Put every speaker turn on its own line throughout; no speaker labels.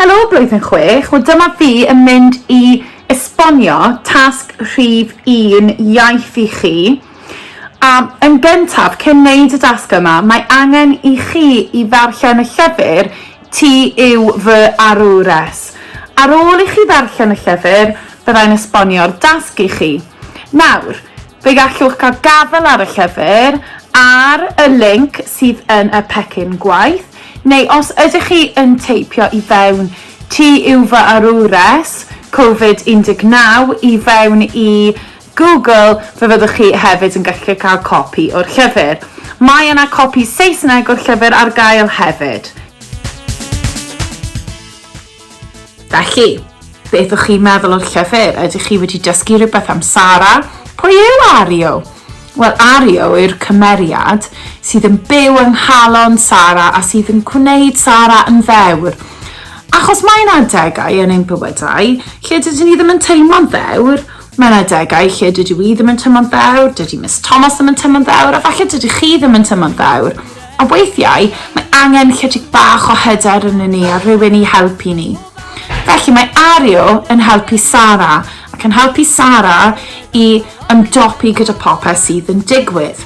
Helo blwyddyn chwech, wel dyma fi yn mynd i esbonio tasg rhif un iaith i chi. A yn gyntaf, cyn wneud y dasg yma, mae angen i chi i ddarllen y llyfr Ti yw fy arwres. Ar ôl i chi ddarllen y llyfr, byddai'n esbonio'r dasg i chi. Nawr, Fe gallwch gael gafael ar y llyfr ar y linc sydd yn y pecyn gwaith, neu os ydych chi yn teipio i fewn Ti yw fy arwres, Covid 19, i fewn i Google, fe fyddwch chi hefyd yn gallu cael copi o'r llyfr. Mae yna copi Saesneg o'r llyfr ar gael hefyd. Felly, beth o'ch chi'n meddwl o'r llyfr? Ydych chi wedi dysgu rhywbeth am Sara? Pwy yw Ario? Wel, Ario yw'r cymeriad sydd yn byw yng nghalon Sara a sydd yn gwneud Sara yn ddewr. Achos mae yna adegau yn ein bywydau lle dydyn ni ddim yn teimlo'n ddewr, mae yna adegau lle dydw i ddim yn teimlo'n ddewr, dydy Miss Thomas ddim yn teimlo'n ddewr, a falle dydy chi ddim yn teimlo'n ddewr. A weithiau, mae angen chydig bach o hyder yno ni a rhywun i helpu ni. Felly mae Ario yn helpu Sara ac yn helpu Sara i ymdopi gyda popeth sydd yn digwydd.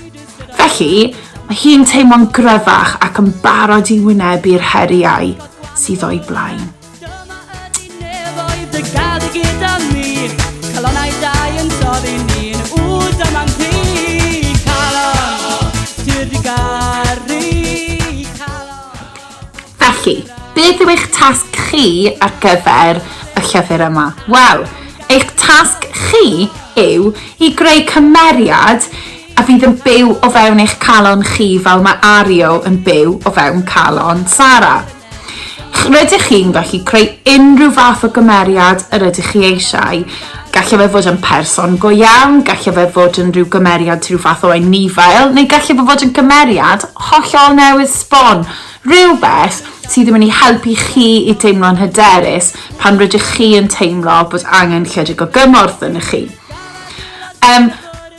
Felly, mae hi'n teimlo'n gryfach ac yn barod i wynebu'r heriau sydd o'i blaen. Dyma ydi nefoedd dy gad gyda mi Calonau dau yn dod i ni'n wd am am fi Calon, sydd di garu Calon Felly, beth yw eich tasg chi ar gyfer y llyfr yma? Wel, eich tasg chi yw i greu cymeriad a fydd yn byw o fewn eich calon chi fel mae Ario yn byw o fewn calon Sarah. Rydych chi'n gallu creu unrhyw fath o gymeriad yr ydych chi eisiau. Gallai fe fod yn person go iawn, gallai fe fod yn rhyw gymeriad rhyw fath o anifail, neu gallai fe fod yn gymeriad hollol newydd sbon, rhywbeth sydd yn mynd i helpu chi i deimlo'n hyderus pan rydych chi yn teimlo bod angen chydig o gymorth ynoch chi. Yym.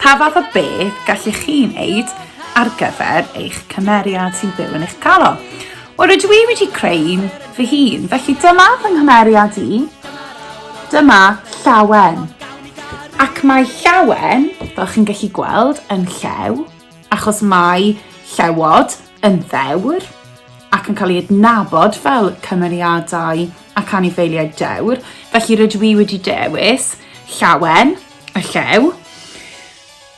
Pa fath o beth gallu chi wneud ar gyfer eich cymeriad sy'n byw yn eich talo? Wel, rydw i wedi creu un fy hun, felly dyma fy nghymeriad i. Dyma Llawen. Ac mae Llawen, fel chi'n gallu gweld, yn llew, achos mae llewod yn ddewr ac yn cael ei adnabod fel cymeriadau ac anifeiliaid dewr, felly rydw i wedi dewis Llawen, y llew.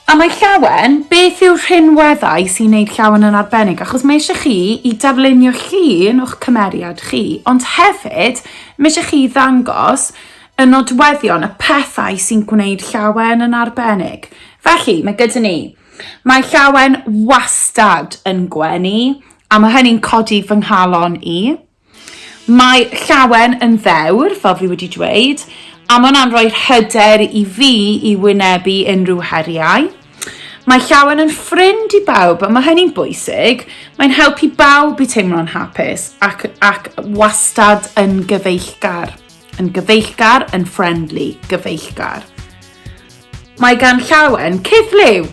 A mae llawen, beth yw'r rhinweddau sy'n neud llawen yn arbennig? Achos mae eisiau chi i darlunio llun o'ch cymeriad chi, ond hefyd mae eisiau chi ddangos y nodweddion, y pethau sy'n gwneud llawen yn arbennig. Felly, mae gyda ni, mae llawen wastad yn gwenu, a mae hynny'n codi fy nghalon i. Mae Llawen yn ddewr, fel fi wedi dweud, a mae hwnna'n rhoi'r hyder i fi i wynebu unrhyw heriau. Mae Llawen yn ffrind i bawb, a mae hynny'n bwysig. Mae'n helpu bawb i teimlo'n hapus ac, ac wastad yn gyfeillgar. Yn gyfeillgar, yn friendly, gyfeillgar. Mae gan Llawen cith liw.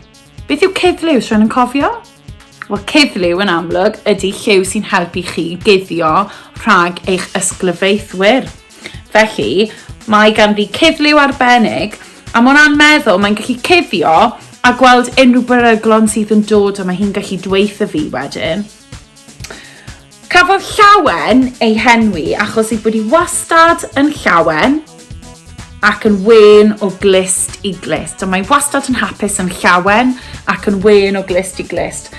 Beth yw cuddliw? Rwy'n yn cofio? Wel, cuddliw yn amlwg ydy lliw sy'n helpu chi guddio rhag eich ysglyfaethwyr. Felly, mae ganddi cuddliw arbennig, a mor anmeddwl, mae'n gallu cuddio a gweld unrhyw beryglon sydd yn dod, a mae hi'n gallu dweud y fi wedyn. Cafodd Llawen ei henwi achos ei bod hi wastad yn llawen ac yn wen o glist i glist. A mae wastad yn hapus yn llawen ac yn wen o glist i glist.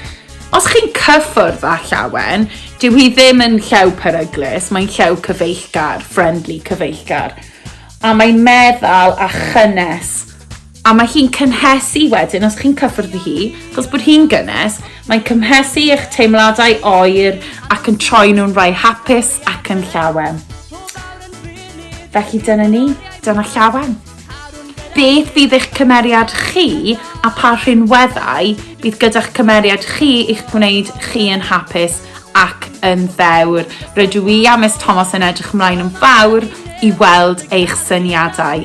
Os chi'n cyffwrdd â llawen, dyw hi ddim yn llew peryglus, mae'n llew cyfeillgar, friendly cyfeillgar. A mae'n meddal a chynnes a mae hi'n cynhesu wedyn, os chi'n cyffwrdd hi, achos bod hi'n gynnes, mae'n cymhesu eich teimladau oer ac yn troi nhw'n rhai hapus ac yn llawen. Felly dyna ni, dyna llawen. Beth fydd eich cymeriad chi a pa rhinweddau bydd gyda'ch cymeriad chi i'ch gwneud chi yn hapus ac yn ddewr. Rydw i a Miss Thomas yn edrych ymlaen yn fawr i weld eich syniadau.